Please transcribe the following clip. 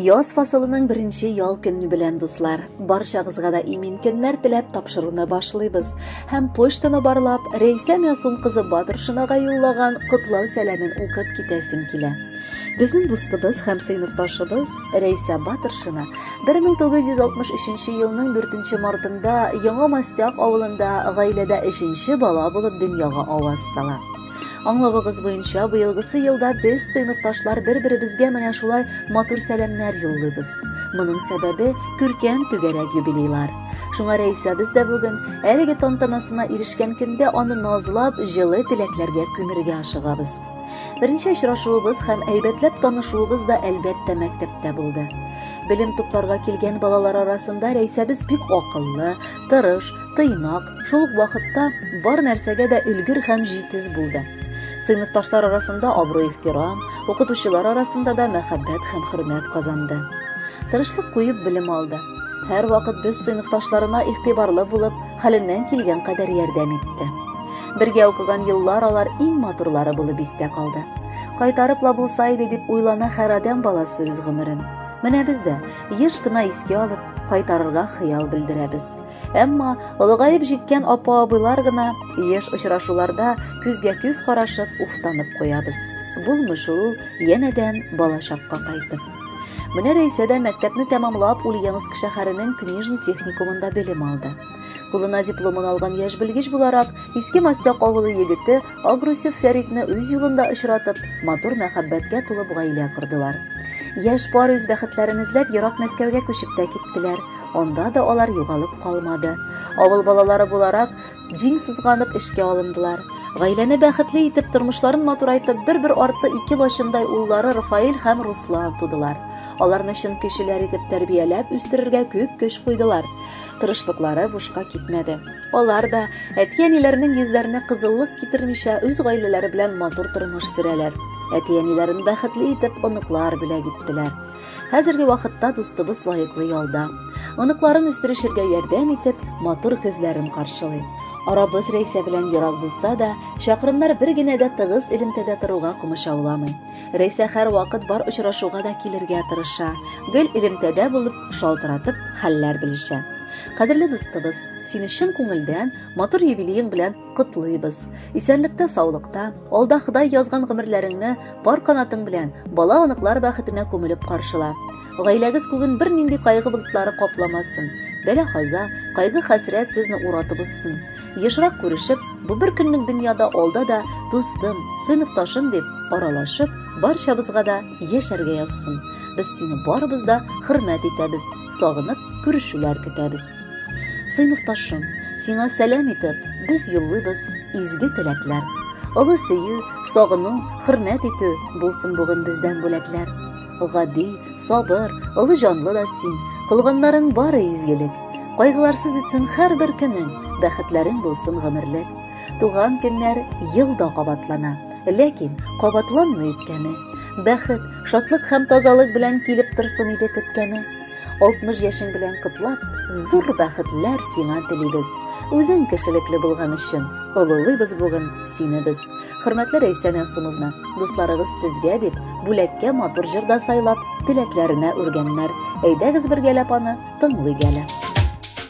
Яз фасылының беренче ял көне белән дуслар. Барчагызга да имин көннәр теләп тапшыруны башлыйбыз. Һәм почтаны барлап, Рәйсә Мясун кызы Батыршинага юллаган котлау сәламен укып китәсем килә. Безнең дустыбыз һәм сыйныфташыбыз Рәйсә Батыршина 1963 елның 4 мартында Яңа Мастяк авылында гаиләдә өченче бала булып дөньяга аваз сала. Аңлавыгыз буенча, быелгысы елда без, сыйныфташлар, бер-беребезгә менә шулай матур сәламнәр юллыйбыз. Моның сәбәбе күркәм түгәрәк юбилейлар. Шуңа Рәисәбез дә бүген әлеге тантанасына ирешкән көндә аны назлап, җылы теләкләргә күмергә ашыгабыз. Беренче очрашуыбыз һәм әйбәтләп танышуыбыз да әлбәттә мәктәптә булды. Белем тупларга килгән балалар арасында Рәисәбез бик акыллы, тырыш, тыйнак, шул ук вакытта бар нәрсәгә дә өлгер һәм җитез булды. Сыйныфташлар арасында абруй-ихтирам, укытучылар арасында да мәхәббәт һәм хөрмәт казанды. Тырышлык куеп белем алды. Һәр вакыт без сыйныфташларына игътибарлы булып, хәленнән килгән кадәр ярдәм итте. Бергә укыган еллар алар иң матурлары булып истә калды. Кайтарып ла булса иде дип уйлана һәр адәм баласы үз гомерен. Менә без дә еш кына искә алып, кайтарырга хыял белдерәбез. Әмма олыгаеп җиткән апа-абыйлар гына еш очрашуларда күзгә-күз карашып уфтанып куябыз. Булмый шул янәдән балачакка кайтып. Менә Рәйсә дә мәктәпне тәмамлап Ульяновск шәһәренең книжный техникумында белем алды. Кулына дипломын алган яшь белгеч буларак, Иске Мастяк авылы егете Агрусев Фәритне үз юлында очратып, матур мәхәббәткә тулып гаилә кордылар. Яшь пар үз бәхетләрен эзләп ерак Мәскәүгә күчеп тә киттеләр. Анда да алар югалып калмады. Авыл балалары буларак, җиң сызганып эшкә алындылар. Гаиләне бәхетле итеп, тормышларын матурайтып, бер-бер артлы ике лачындай уллары Рафаэль һәм Руслан тудылар. Аларны чын кешеләр итеп тәрбияләп үстерергә күп көч куйдылар. Тырышлыклары бушка китмәде. Алар да, әти-әниләренең йөзләренә кызыллык китермичә, үз гаиләләре белән матур тормыш сөрәләр. Әти-әниләрен бәхетле итеп оныклар бүләк иттеләр. Хәзерге вакытта дустыбыз лаеклы ялда. Оныкларын үстерешергә ярдәм итеп, матур көзләрен каршылый. Арабыз Рәйсә белән ерак булса да, чакрымнар бер генә дә тыгыз элемтәдә торуга комачауламый. Рәйсә һәрвакыт бар очрашуга да килергә тырыша. Гел элемтәдә булып, шалтыратып хәлләр белешә. Кадерле дустыбыз, сине чын күңелдән матур юбилеең белән котлыйбыз. Исәнлектә, саулыкта, алда Ходай язган гомерләреңне пар канатың белән бала-оныклар бәхетенә күмелеп каршыла. Гаиләгез күген бернинди кайгы болытлары капламасын. Бәла-каза, кайгы-хәсрәт сезне уратып узсын. Ешрак күрешеп, бу бер көнлек дөньяда алда да дустым, сыйныфташым дип аралашып, барчабызга да Яшәргә язсын. Без сине барыбыз да хөрмәт итәбез, сагынып күрешүләр көтәбез. Сыйныфташым, сиңа сәлам итеп, без юллыйбыз изге теләкләр. Олы сөю, сагыну, хөрмәт итү булсын бүген бездән бүләкләр. Гади, сабыр, олы җанлы да син, кылганнарың бары изгелек. Кайгыларсыз үтсен һәрбер көнең, бәхетләрең булсын гомерлек. Туган көннәр ел да кабатлана. Ләкин кабатланмый үткәне. Бәхет, шатлык һәм тазалык белән килеп торсын иде көткәне. 60 яшең белән котлап, зур бәхетләр сиңа телибез. Үзең кешелекле булган өчен олылыйбыз бүген сине без. Хөрмәтле Рәйсә Мәсумовна, дусларыгыз сезгә дип бүләккә матур җырда сайлап, теләкләренә үргәннәр. Әйдәгез бергәләп аны тыңлыйк әле.